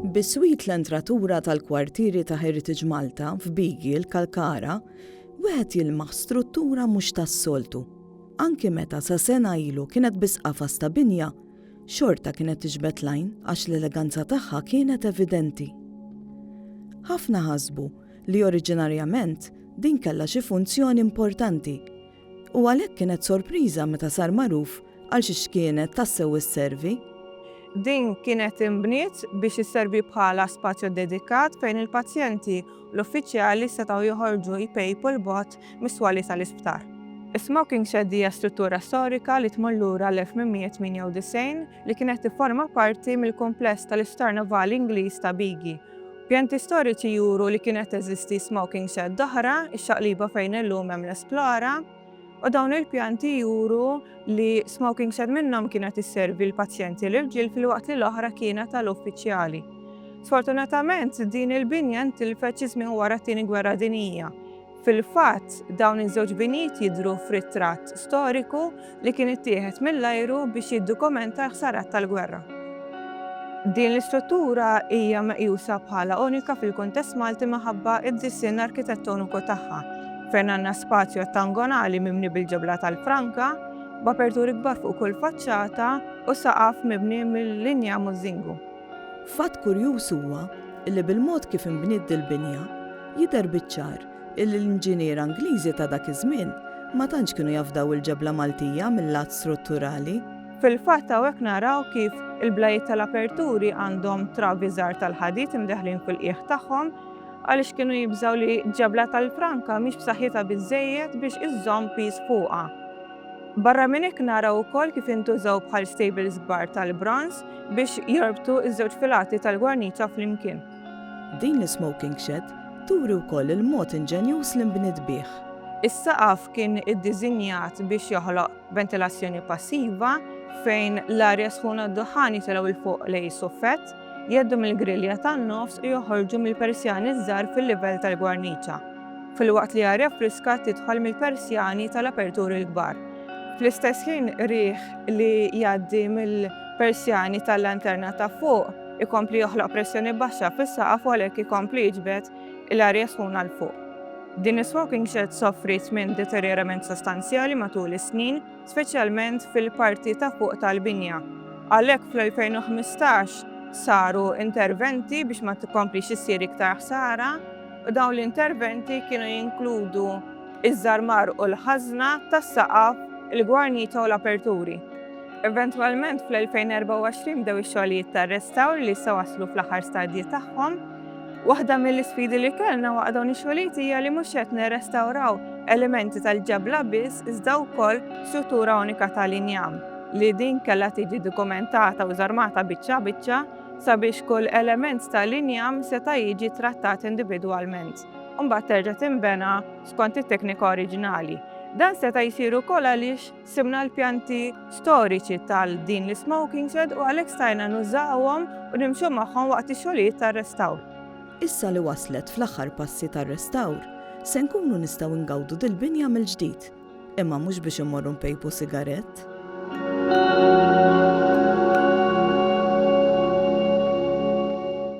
Biswit l-entratura tal-kwartieri ta' Heritage Malta f'Bigi l-Kalkara, wieħed jilmaħ struttura mhux tas-soltu. Anki meta sa sena ilu kienet biss qafas ta' binja, xorta kienet tiġbed l-għajn għax l-eleganza tagħha kienet evidenti. Ħafna ħasbu li oriġinarjament din kellha xi funzjoni importanti, u għalhekk kienet sorpriża meta sar magħruf għal xi x'kienet tassew isservi. Din kienet inbniet biex isservi bħala spazju ddedikat fejn il-pazjenti u l-uffiċjali setgħu joħorġu jpejpu 'l bogħod mis-swali tal-isptar. Is-smoking shed hija struttura storika li tmur lura l-1898 li kienet tifforma parti mill-kumpless tal-Isptar Navali Ingliż ta' Bigi Pjanti storiċi juru li kienet teżisti smoking shed oħra, ix-xaqliba fejn illum hemm l-Esplora, u dawn il-pjanti juru li smoking shed minnhom kienet isservi l-pazjenti l-irġiel filwaqt li l-oħra kienet għal uffiċjali. Sfortunatament din il-binja ntilfet xi żmien wara t-Tieni Gwerra Dinjija. Fil-fatt, dawn iż-żewġ binjiet jidhru f'ritratt storiku li kien ittieħed mill-ajru biex jiddokumenta l-ħsarat tal-gwerra. Din l-istruttura hija meqjusa bħala unika fil-kuntest Malti minħabba d-disinn arkitettoniku tagħha, fejn għandna spazju ottangonali mibni bil-ġebla tal-franka, b'aperturi kbar fuq kull faċċata u saqaf mibni mill-injam u ż-żingu. Fatt kurjuż huwa li bil-mod kif inbniet dil-binja, jidher biċ-ċar illi l-inġiniera Ingliżi ta' dak iż-żmien ma tantx kienu jafdaw il-ġebla Maltija mil-lat strutturali. Fil-fatt hawnhekk naraw kif il-blajiet tal-aperturi għandhom travi żgħar tal-ħadid imdaħħlin fil-qiegħ tagħhom għaliex kienu jibżgħu li ġebla tal-Franka mhix b'saħħitha biżżejjed biex iżżomm piż fuqha. Barra minn hekk naraw ukoll kif intużaw bħal stables kbar tal-bronż biex jorbtu ż-żewġ filati tal-gwarniċa flimkien. Din l-ismoking shed turi wkoll il-mod inġenjuż li nbniet bih. Is-saqaf kien iddiżinjat biex joħloq ventilazzjoni passiva fejn l-arja sħuna u d-duħħan jitilgħu 'l fuq lejn is-suffett. Jgħeddu mill-grilja tan-nofs u joħorġu mill-persjani ż-żgħar fil-livell tal-gwarniċa, filwaqt li arja friska tidħol mill-persjani tal-aperturi l-kbar. Fl-istess ħin riħ li jgħaddi mill-persjani tal-lanterna ta' fuq ikompli joħloq pressjoni baxxa fis-saqaf u għalhekk ikompli jiġbed l-arja sħuna 'l fuq. Din is-smoking shed soffriet minn deterjorament sostanzjali matul is-snin, speċjalment fil-parti ta' fuq tal-binja. Għalhekk fl-2015 saru interventi biex ma tikkomplix issir iktar ħsara u dawn l-interventi kienu jinkludu ż-żarmar u l-ħażna tas-saqaf, il-gwarniċa u l-aperturi. Eventwalment fl-2024 bdew ix-xogħlijiet tar-restawr li issa waslu fl-aħħar stadji tagħhom. Waħda mill-isfidi li kellna waqt dawn ix-xogħlijiet hija li mhux qed nirrestawraw elementi tal-ġebla biss iżda wkoll struttura unika tal-injam li din kellha tiġi dokumentata u żarmata biċċa biċċa sabiex kull element tal-injam seta' jiġi trattat individwalment u mbagħad terġa' tinbena skont it-teknika oriġinali. Dan seta' jsir ukoll għaliex Sibna l-pjanti storiċi tal din l-ismoking shed u għalhekk stajna nużawhom u nimxu magħhom waqt ix-xogħlijiet tar-restawr. Issa li waslet fl-aħħar passi tar-restawr, se nkunu nistgħu ngawdu dil-binja mill-ġdid, imma mhux biex immorru npejpu sigarett.